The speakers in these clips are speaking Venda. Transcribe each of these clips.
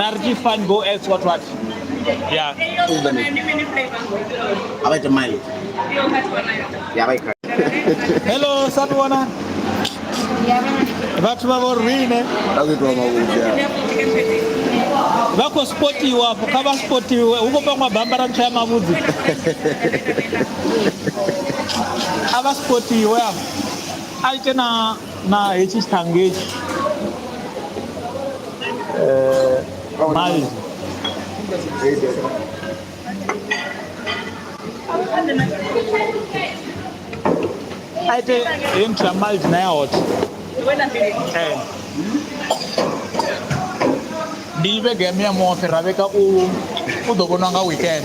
Narji fine go as what what? Yeah. Abai ta mai. Ya bai ka. Hello Satwana. Vhathu vha vho rine. Vha khou itwa mavhudza. Vha khou spotiwa afho kha vha spotiwe hu khou pangwa bambara ntswa ya mavhudzi. A vha spotiwe afho. A ite na Na hetshi tshiṱhangu hetshi mai a ite heyi muthu ya mild na ya hot Eh. ndi vhege ya miyamuho fhira vheka u u ḓo vhonwa nga weekend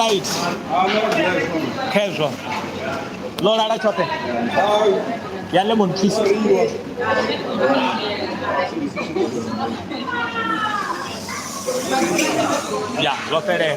right khezwo ḽo lala tshoṱhe ya lemon twist ya zwo fhelela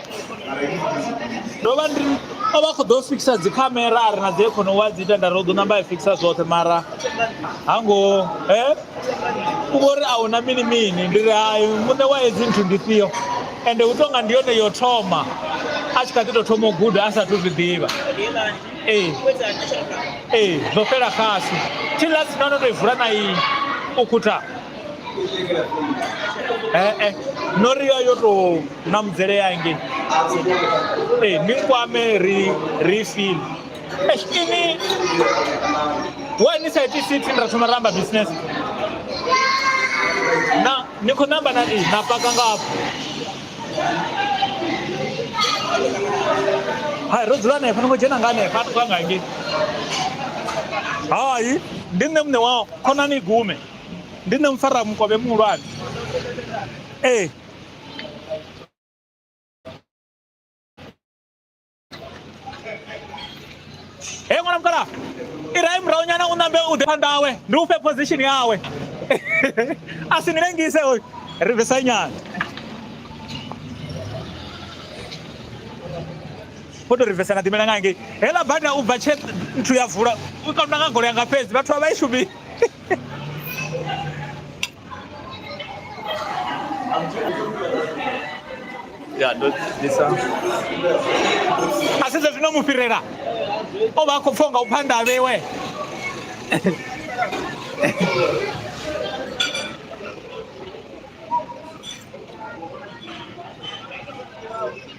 ndo vha ndi o vha khou ḓo fikisa dzi khamera a ri na dzi ekhono wa dzi ita nda ri u ḓo namba i fikisa zwoṱhe mara ha ngo e u vho ri a hu na mini mini ndi ri hai muṋe wa hedzi nthu ndi fhio ende hu tonga ndi yone yo thoma a tshi kha ḓi tou thoma u guda a sathu zwi ḓivha ee ee zwo fhela khasi thi lasi no no to i vula na iyi u khutha ee no ri yo yo tou na mudzele ya ngei ee ni kwame ri ri fili ini why ni sa iti sithi ni ra thoma ramba business na ni khou namba na ni na paka ngafho hai ro dzula hanefha ni khou dzhena nga hanefha a tou nga ngei hai ndi nṋe muṋe wa khonani gume Ndi nṋe mufaramukovhe muhulwane. Ee. He ṅwana mukala i rahe murahu nyana u nambe u ḓe phanḓa awe ndi u fhe position yawe a si ni lengise hoyu ri bvisa nyana vho tou ri bvisa na ḓimela nga ngei heḽa bada u bva tshe nthu ya vula u kaunda nga golo yanga fhedzi vhathu vha vha i shumisi ya ndo ḓisa a sedza zwino mu fhirela o vha a khou pfha nga u phanḓa a vhewe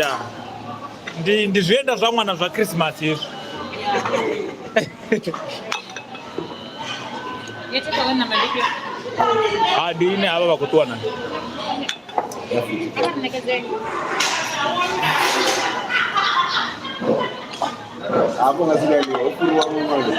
ya ndi ndi zwienda zwa ṅwana zwa khrisimasi hezwi ha ndi ine havha vha khou ṱuwa nayo hapo ngazi gani? Huku ni wangu mmoja.